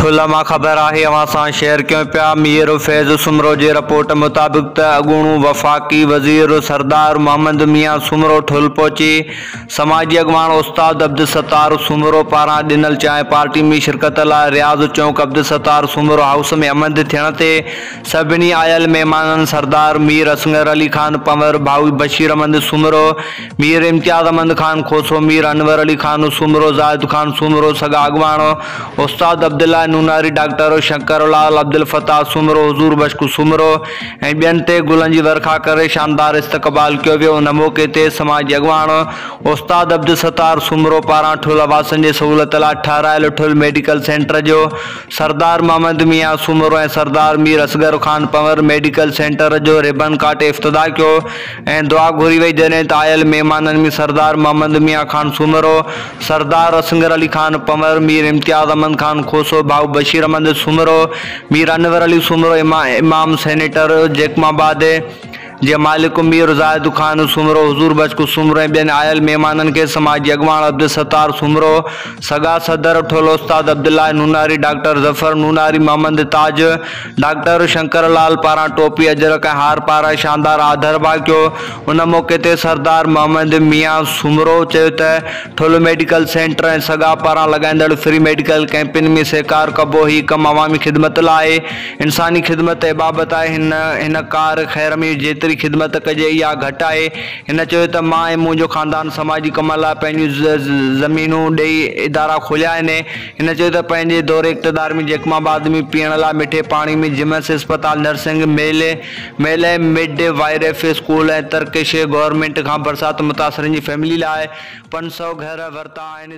ٺلهه مان خبر آهي اوهان سان شيئر ڪيون پيا مير فيض سومرو جي رپورٽ مطابق ته اڳوڻو وفاقي وزير سردار محمد ميان سومرو ٺلهه پهچي سماجي اڳواڻ استاد عبدالستار سومرو پاران ڏنل چانهه پارٽي ۾ شرڪت لاء رياض چونڪ عبدالستار سومرو هائوس ۾ همنڌ ٿيڻ تي سڀني آيل مهمانن سردار مير اصغر علي خان پنور ڀائو بشير احمد سومرو مير امتياز احمد خان کوسو، مير انور علي خان سومرو، زاهد خان سومرو، سگا اڳواڻ، استاد عبدالله نوناري، ڊاڪٽر شنڪر لعل، عبدالفتاح سومرو، حضور بشڪ سومرو ۽ ٻين تي گلن جي ورکا ڪري شاندار استقبال ڪيو ويو ان موقعي تي سماجي اڳواڻ استاد عبدالستار سومرو پاران ٺل واسين جي سهولت لاء ٺهرايل ٺل ميڊيڪل سينٽر جو سردار محمد ميان سومرو ۽ سردار مير اصغر خان پنور ميڊيڪل سينٽر جو ريبن ڪاٽي افتتاح ڪيو ۽ دعا گهري وئي جڏهن ته آيل مهمانن ۾ سردار محمد ميان خان سومرو، سردار اصغر علي خان پنور، مير امتياز احمد خان کوسو، ڀائو بشير احمد سومرو، مير انور علي سومرو، امام سينيٽر جيڪم آباد جي مالڪ مير زاهد خان سومرو، حضور بخش سومرو ۽ ٻين آيل مهمانن کي سماجي اڳواڻ عبدالستار سومرو، سگا صدر ٺولو استاد عبدالله نوناري، ڊاڪٽر ظفر نوناري، محمد تاج، ڊاڪٽر شنڪر لال پاران ٽوپي، اجرڪ ۽ هار پارائي شاندار آڌرڀاء ڪيو. ان موقعي تي سردار محمد ميان سومرو چيو ته ٺل ميڊيڪل سينٽر ۽ سگا پاران لڳائيندڙ فري ميڊيڪل ڪئمپن ۾ سهڪار ڪبو، هي ڪم عوامي خدمت لاء آهي، انساني خدمت ته عبادت آهي، هن هن ڪار خير ۾ جيتري خدمت ڪجي اها گهٽ آهي، هن چيو ته مان ۽ منهنجو خاندان سماجي ڪمن لاء پنهنجون زمينون ڏئي ادارا کوليا آهن. هن چيو ته پنهنجي دور اقتدار ۾ جيڪب آباد ۾ پيئڻ لاء مٺي پاڻي ۾ جمس اسپتال، nursing male, male ۽ midwife school ۽ Turkish government کان برسات متاثرن جي فيملي لاء پنج سؤ گهر ورتا آهن.